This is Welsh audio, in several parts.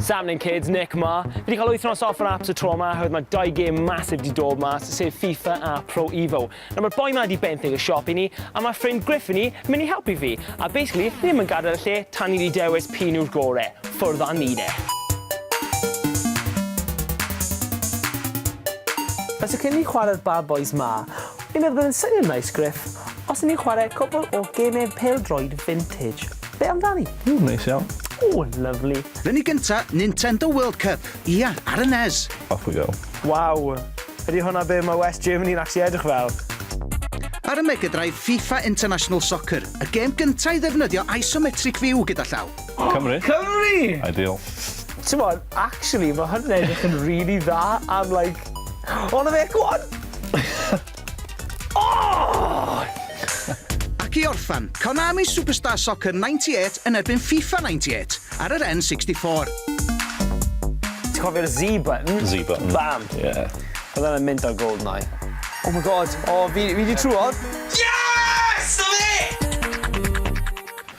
Sam Lane Kids, Nick ma. Fi wedi cael wythnos off yn apps y tro yma, hywed mae dau gêm masif di dod mas, sef FIFA a Pro Evo. Nawr mae'r boi ma di benthyg y siop i ni, a mae ffrind Griff i ni mynd i helpu fi. A basically, ni ddim yn gadael y lle tan ni wedi dewis pyn yw'r gore. Ffwrdd â ni de. Felly cyn ni chwarae'r Bad Boys ma, fi'n meddwl bod yn syniad nice, Griff, os ni'n chwarae cwbl o gemau pel-droed vintage. Be amdani? Ww, neis iawn. Ww, lyfli. Ren i gynta, Nintendo World Cup. Ia, ar y NES. Off we go. Waw! Ydy hwnna be mae West Germany yn actually edrych fel? Ar y Mega Drive, FIFA International Soccer, y gêm gynta' i ddefnyddio isometric view gyda llaw. Cymru! Cymru! Ideal. T'mod, actually, mae hwn yn edrych yn rili dda am like... O, 'na fe! Go on! Ac i orffen, Konami Superstar Soccer 98 yn erbyn FIFA 98 ar yr N64. Ti'n cofio'r Z button? Z button. Bam! Ie. Oedd hwnna'n mynd ar Goldeneye. Oh my God! O, fi, fi 'di trwodd! Yes! 'Na fe!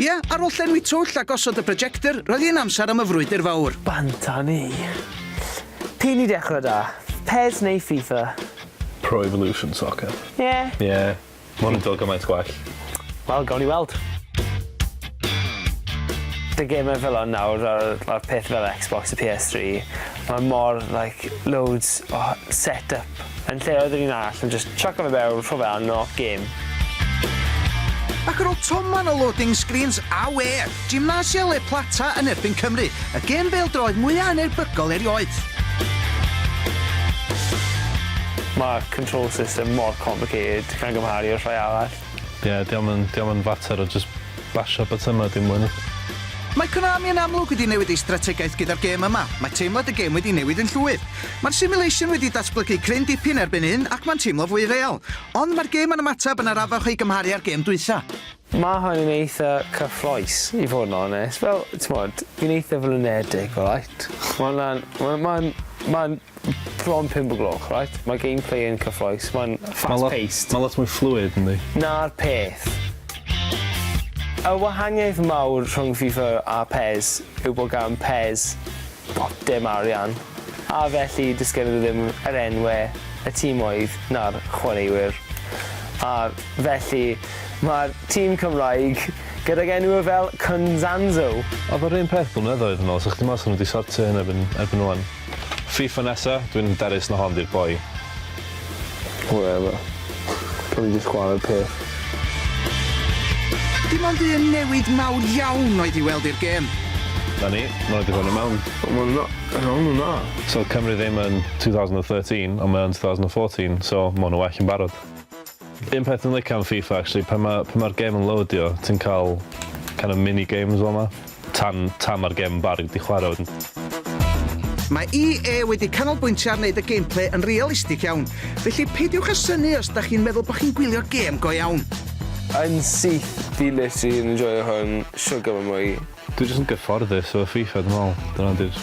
Ie, ar ôl llenwi twll a gosod y projector, roedd hi'n amser am y frwydr fawr. Banta ni! P'un i dechrau da? Pes neu FIFA? Pro Evolution Soccer. Ie. Ie. Ma' hwn yn dod gymaint gwell. Wel, gawn ni weld. The gamer fel hwn nawr, fel, fel peth fel Xbox a PS3, mae mor, like, loads o set-up Yn lle oedd yr un arall yn jyst chucko fe fewn, rho fe arno, gêm. Ac ar ôl toman o loading screens, awe! Gimnasia Le Plata yn erbyn Cymru, y gêm bêl-droed mwya anerbygol erioed. Mae'r control system mor complicated gan gymharu â'r rhai arall. Ie, dio'm yn, dio'm yn fater o jyst basio botymau dim mwy na. Mae Konami yn amlwg wedi newid ei strategaeth gyda'r gêm yma, mae teimlad y gêm wedi newid yn llwyr. Mae'r simulation wedi datblygu cryn dipyn erbyn hyn ac mae'n teimlo fwy real. Ond mae'r gêm yn ymateb yn arafach o'i gymharu â'r gêm dwytha. Mae hwn yn eitha cyffrous i fod yn onest, fel, t'mod, fi'n eitha flinedig, alright? Mae hwnna'n, ma' ma'n, ma'n, Bron pump o gloch right? Mae gameplay yn cyffroes, mae'n fast paced. Mae lot mwy fluid ynddi. Na'r peth. Y wahaniaeth mawr rhwng FIFA a pes yw bod gan pes bob dim arian, a felly does gennym ddim yr enwau, y timoedd na'r chwaraewyr. A felly mae'r tîm Cymraeg gydag enwau fel Cunzanzo. Oedd o'r un peth blynyddoedd yn ol, 'sech chdi meddwl 'sen nhw 'di sortio hyn erbyn erbyn ŵan. Fifa nesa, dwi'n hyderus na hon di'r boi. Whatever. Gawn ni jyst chwarae'r peth. Dim ond un newid mawr iawn oedd i weld i'r gêm. Na ni, ma' nhw 'di bod yn mewn. Wel ma' nhw na, ma' nhw na. So Cymru ddim yn 2013 ond mae o yn 2014 so ma' hwn yn well yn barod. Un peth dwi'n licio am FIFA actually pan ma' pan ma'r gêm yn loadio ti'n ca'l kind of mini games fel 'ma tan tan ma'r gêm yn barod i chwara wedyn. Mae EA wedi canolbwyntio ar wneud y gameplay yn realistig iawn, felly peidiwch â synnu os da chi'n meddwl bod chi'n gwylio gêm go iawn. Yn syth, dwi literally yn enjoio hwn shwt gymaint mwy. Dwi jyst yn gyfforddus efo FIFA dwi me'wl. Dyna 'di'r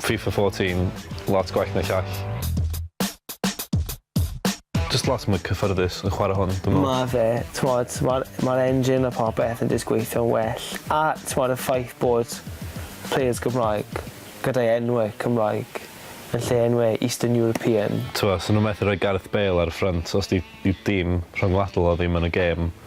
Fifa fourteen, lot gwell na llall. Jyst lot mwy cyffyrddus yn chwarae hwn, dwi'n meddwl. Mae fe, t'mod, mae'r mae'r engine a popeth yn jyst gweithio'n well. A, t'mod, y ffaith bod players Gymraeg gyda'i enwe Cymraeg yn lle enwe Eastern European. T'mod, 'sen nhw methu rhoi Gareth Bale ar y ffrynt os 'di 'i dîm rhyngwladol o ddim yn y gêm.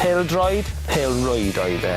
Pêl-droed, pêl-rwyd oedd e.